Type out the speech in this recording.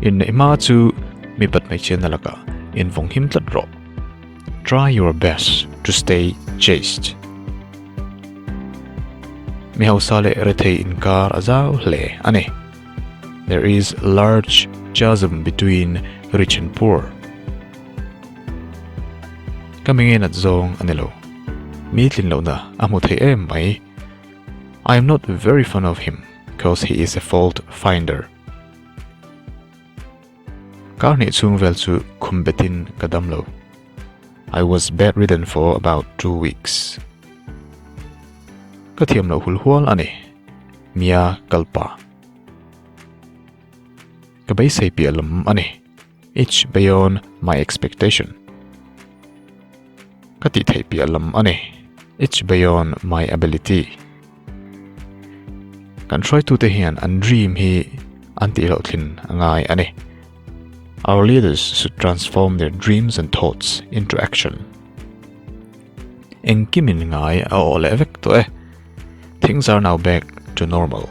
Inneih hma chu mi pat hmeichhia na lakah in vawng him tlat rawh. Try your best to stay chaste. Mi hausa leh rethei inkar a zau hle a ni. There is large chasm between rich and poor. Ka mi nge nat zawng a ni lo. Mi tlinlohna a hmu thei em mai. I am not very fond of him. because he is a fault finder. Kar hnih chhung vel chu khum betin ka dam lo. I was bedridden for about two weeks. Ka thiam lo hul hual ani. Mia kalpa. Ka beisei piah lawm ani. It's beyond my expectation. Ka tih theih piah lam a ni. It's beyond my ability. Kan hruaitute hian an dream hi an tih loh thlin ngai a ni. Our leaders should transform their dreams and thoughts into action. Engkimin ngai a aw leh vek tawh e. Things are now back to normal.